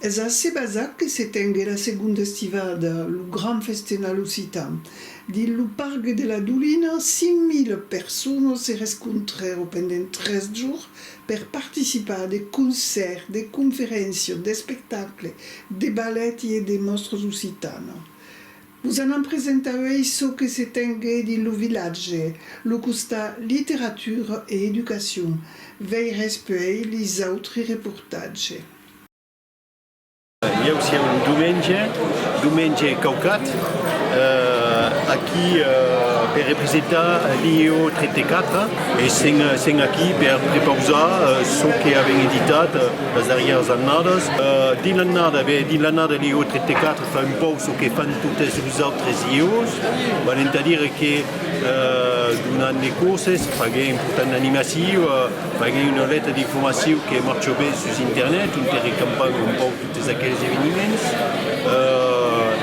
Es ací basat que se tengue la segonda estivada lo gran festenal occitan. Dins lo pargue de la Dolina, 5.000 personas se rescontrèron pendent tres jorns per participar a de concèrts, de conferéncias, d'espectacles, de balèti e de mòstras occitanas. Vos anam presentar uèi çò que se tengué dins lo vilatge, lo costat literatura e educacion. Veirètz puèi lis autri reportatge. Ieu sieu un Dumenge, Dumenge Caucat, aquí per representar l'IEO 34 e sèm aquí per prepausar çò que avèm editat las darrièras annadas. Dins l'annada, ben dins l'annada l'IEO 34, Fa un pauc çò que fan totes los autres iòs, val entà dire que donant de corses, faguent portant d'animaciu, faguent una lèta d'informaciu que marcha ben sus internet, ont recampam un pauc totes aqueles eveniments.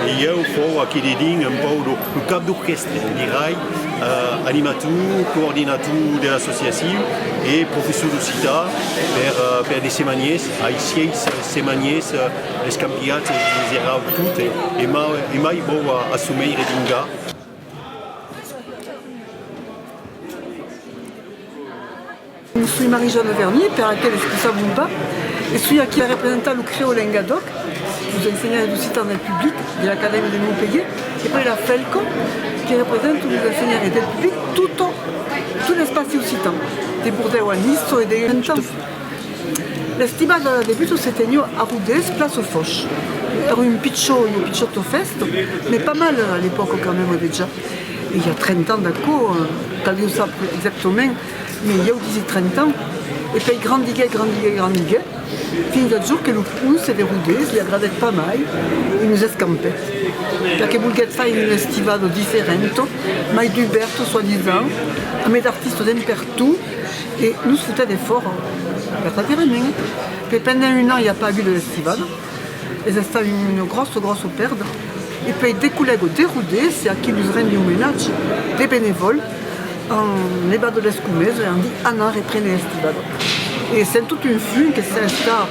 E ieu fau aquí dedins un pauc lo cap d'orquèstra, dirai, animator, coordinator de l'associaciu e professor d'occitan per de semanièrs, ai sièis semanièrs, Escampiatz e vos erau tot e mai vòu a çò mei redingar. Soi Marie-Jeanne Vernier, per aqueles qui sabon pas, e soi aquí per representar lo CREO Lengadòc, los ensenhants d'occitan del public de l'Acadèmia de Montpelhier, e puèi la FELCO, que represento los ensenhants e del public totau l'espaci occitan, de Bordèu a Nice çò e de Gentan. L'estival de la debuta se teniu a Rodés, plaça au Fòch. Èra un pichó, ua pichòta fèsta, mais pas mal a l'epòca quand même dejà. I a trenta ans d'aquò, caliu sap exactament, mais ieu disi trenta ans. E pei grandiguèt, grandiguèt, grandiguèt, fins ath jorn que lo ponce de Rodés li agradèt pas mai e nos escampèt, perque volguèt faire un estival diferent, mai dubèrta, soi-disant, amb es artistas en pertot, Que nos foten en fòra, per pas dire mèn, que pendent un an i a pas agut de festival, es estat una gròssa gròssa pèrda, e puèi de collèga de Rodés a qui los rendi omenatge, de benevòl, an levat de l'escumesa e an dit, Anna, reprene Estivada. E sent tot un fum que sens cap.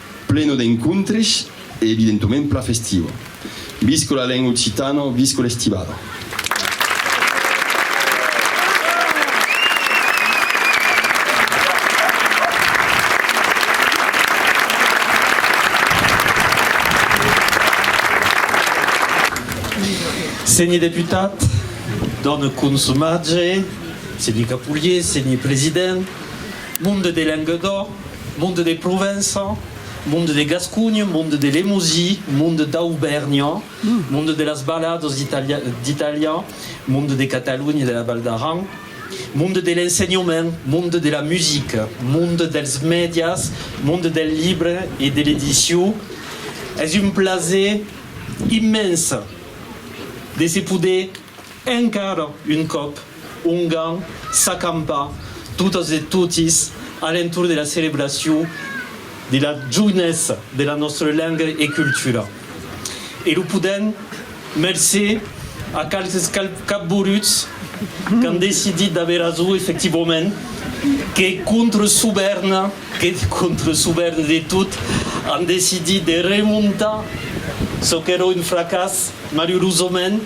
Pleno d'encontres e evidentoment pla festiva. Visca la lenga occitana, visca l'estivada. Senhe deputat, dòne consomatge, senhe Capulhier, senhe president, Monde de Languedoc, Monde de Provença, Monde de Gascunh, Monde de Lemosie, Monde d'Aubèrnha, Monde de las Baladas d'Itàlia, Monde de Catalonha e de la Val d'Aran, Monde de l'Ensenhament, Monde de la Musica, Monde dels Mèdias, Monde del Libre e de l'Edicion. Es un plaser immens de se poder Encara un còp, Ongan s'acampa totas e totis a l'entorn de la celebracion de la jounessa de la nòstra lenga e cultura. E lo podèm mercé a qualques capboruts qu'an decidit d'aver rason efectivament, que contra Sovèrna, que contra Sovèrna de tot, an decidit de remontar çò qu'èra un fracàs, Malurosament,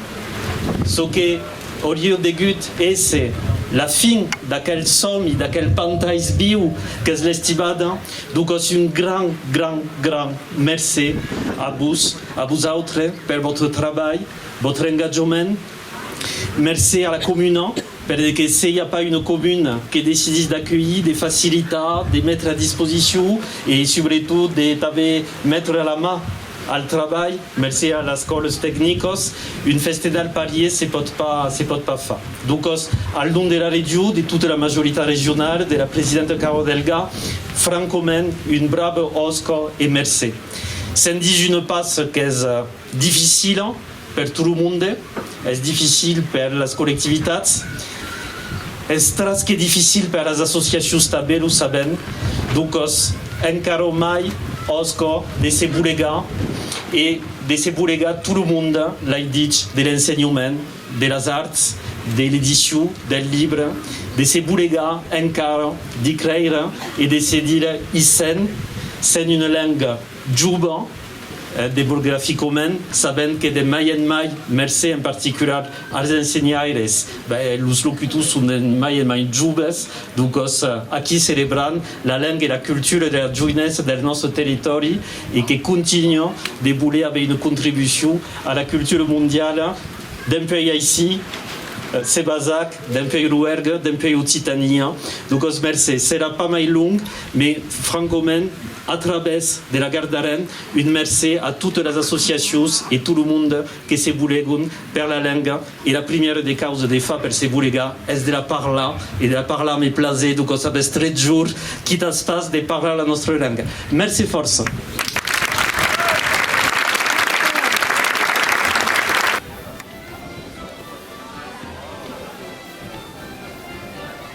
çò que aurie degut èsser la fin d'aquel sòmi, d'aquel pantais viu qu'es l'Estivada, donc es un grand, grand, grand mercé a vos, a vosautres, per vòstre trabalh, vòstre engatjament. Mercé a la comuna, per que seia pas una comuna que decidís d'acuelhir, de facilitar, de metre a disposicion e subretot de tanben metre la man, Al trabalh, mercé a las còles tecnicos, un festedal parier se pòt pas se pòt pas far. Duncos, al nom de la Region, de tota la majoritat regionala, de la presidenta Carò Delga, francament, un brave òsca e mercé. Se'n dís una pas qu'es dificila, Per tot lo monde es dificil per las collectivitats, es tras que dificil per las associacions tanben o sabèm, doncòs encara mai òs cò de se bolegar e de se bolegar tot lo monde l'ai dich de l'ensenhament de las arts, de l'edicion del libre, de se bolegar encara de creire e de se dire isen sen una lenga. Juba, eth de Burgrafi Comment, sabent que de mai en mai, mercé en particular as ensenhaires, los locutors son de mai en mai joves, dogòs aquí celebrant la lenga e la cultura dera joinessa deth nòste territòri e que continua de voler aver una contribucion ara cultura mondiala, dempèi aicí se basac, dempèi Roergue, dempèi Occitania. Dogòs mercé. Serà pas mai long, mes francament. A través de la Gard d'Aran, un mercé a totes las associacions e tot lo monde que se bolegon per la lenga e la primièra de causa de far per se bolegar es de la parlar e de la parlar me plase donc o sabes tres jorns quit as fas de parlar la nostra lenga. Mercé fòrça.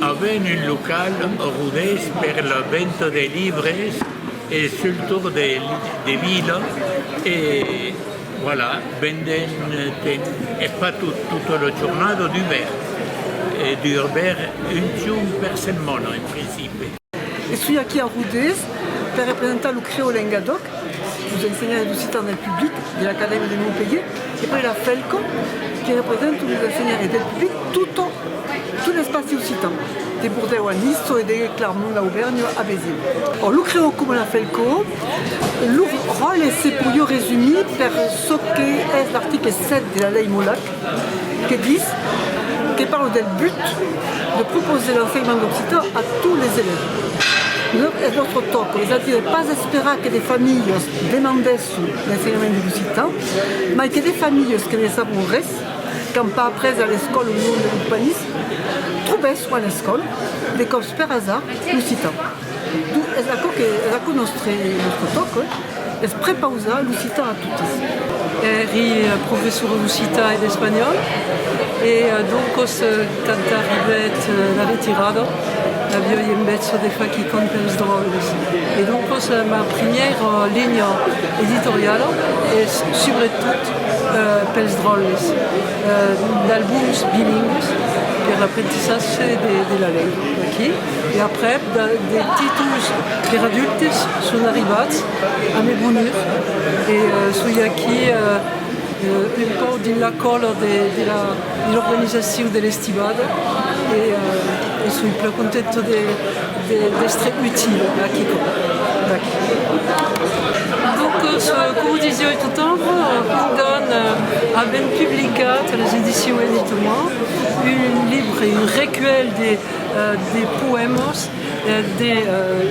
Avèm un local rodés per la venta de libres e sul torn de vila e Voilà, venden ten eth patot tota ua jornada dubèrt, e dubèrt un jorn per setmana en principi. E soi aquí a Rodés per representar lo Crèo Lengadòc, los ensenhants d'occitan del public de l'Acadèmia de Montpelhier, e puèi la FELCO, que represento los ensenhants e del public tota tot l'espaci occitan, de Bordèu a Niço e de Clarmont-Aubèrnha a Béziers. Lo Crèo coma la FELCO. Lo ròtle se podiá resumir per çò que es l'article 7 de la lei Molac que dis, que parla del but de proposer l'ensenhament d'occitan a tots les elèves. Es nòstre tòca, es a dire pas esperar que de familhas demandèsson l'ensenhament de l'occitan, mai que de familhas que ne sabon res, qu'an pas après a l'escòla lo nom de l'occipanisme, trobèsson a l'escòla, de còps per asard, l'occitan. D'où es aquò que, es aquò nòstre fòc, oi? Es prepausar l'occitan a totes. Èri professora d'occitan e d'espanhòl e doncos quand arribèt la retirada avioi en bètza de far quicòm pels dròlles e doncos ma primièra linha editoriala es subretot pels dròlles, d'albums bilingües per l'aprendissatge de la lenga, ok? E aprèp de titulls per adultes son arribats a me brunir e soi aquí un pauc dins la còla de l'organizacion de l'estibada e soi plan contenta d'èstre utila a quicòm d'aqui. Donc coma o disiái tot ample, ongan avèm publicat a las edicions Edit'Moi un libre, un recuèlh de De poèmas de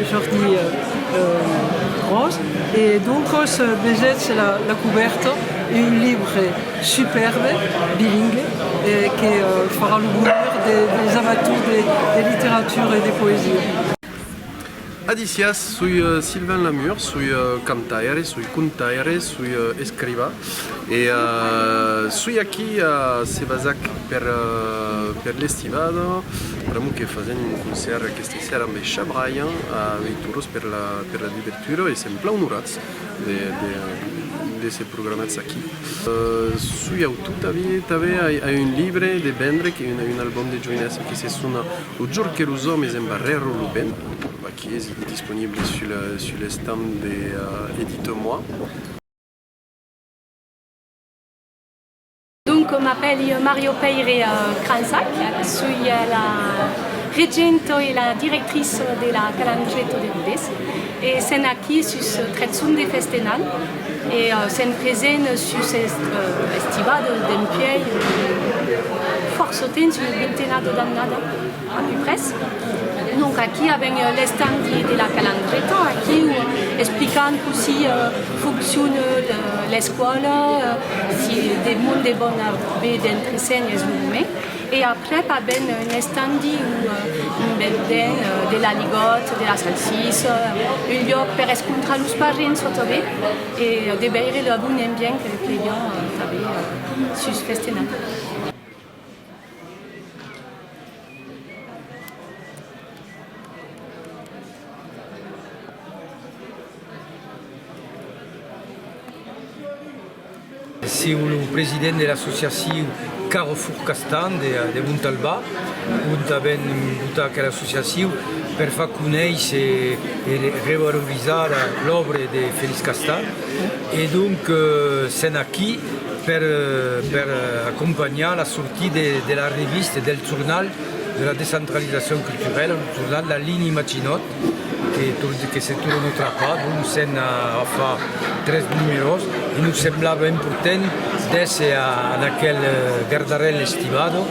Jordi Ros e doncas vesètz la cubèrta, un libre supèrbe, bilingue, que farà lo bonheur des amators de literatura e de poesia. Adicias, soi Sylvain Lamure, soi cantaire, soi contaire, soi escriva e soi aquí a Sebazac per per l'estivada pr'amor que fasèm un concèrt aquesta sèra amb es Chabrayans a Veiturós per la per la dubertura e sèm plan onorats de d'èsser programats aquí. Soi autor tanben a un libre de vendre un album de joinèssa que se sona. Lo jorn que los òmes embarrèron lo ben, aquí es disponible sul l'estand de Edite-moi. Donc m'apèli Mario Pèire Cransac, soi la regenta e la directrice de la Calandreta de Rodés e sèn aquí sus Trèthson de Festenal, E sent present sus estribador d'un pièi fòrça temps, una vintenada d'annada a peu pres. Donc aquí avèm l'estand de la Calandreta, aquí o explicant cossí foncciona l'escòla, si de monde vòna ve d'entre sèn es lo moment. E après pas ben un estandi o un bendent de l'aligot, de la salsissa, un lloc per escontrar los parents o tanben e de veire lo bon ambient que plèion tanben sus Festenat. S'iu lo president de l'associaciu Carrefour Castan de Montalbà, ont avèm votat aquela associaciu per far conéisser e revalorizar l'òbra de Félix Castan e donc sèn aquí per acompanhar la sortida de la revista, del jornal de la descentralizacion culturèla, lo jornal La Ligne Maginot. que tot que se torne a trapar donc s'en a far tres numeròs e nos semblava important d'èsser en aquel gardarèl estivado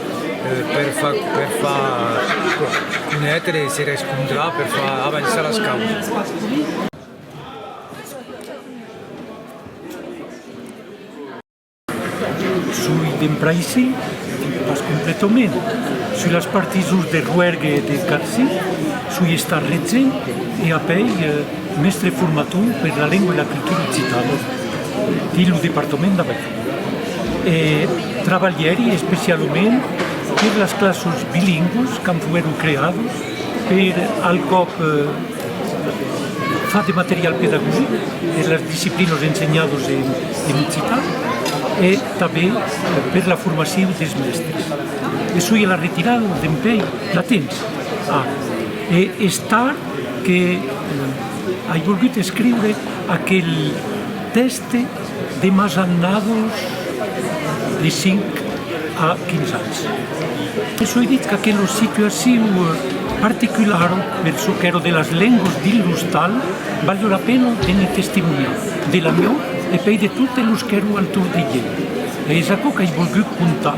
per far conéter e se rescontrar per far avançar las causas. Soi dempr'aicí, pas completament. Sus las partisons de Rouergue e de Carci, soi estat retge e apèi mèstre formator per la lengua e la cultura occitana dins lo departament d'Availl. E trabalhèri especialament per las classes bilingües quand foguèron creadas per al còp Fa de material pedagogic per las disciplinas ensenhadas en occitan e tanben per la formacion dels mèstres. E soi a la retirada de'n pei la tens? Ah! E es tard que ai volgut escriure aquel tèxte. De masannados de 5 a 15 ans. E soi dit qu'aquelo situaciu particular per çò qu'èro de las lengas dins l'ostal valió la pena de ne testimoniar, de la mieu e pei de totes los qu'èron al torn de ieu. E es aquò qu'ai volgut contar.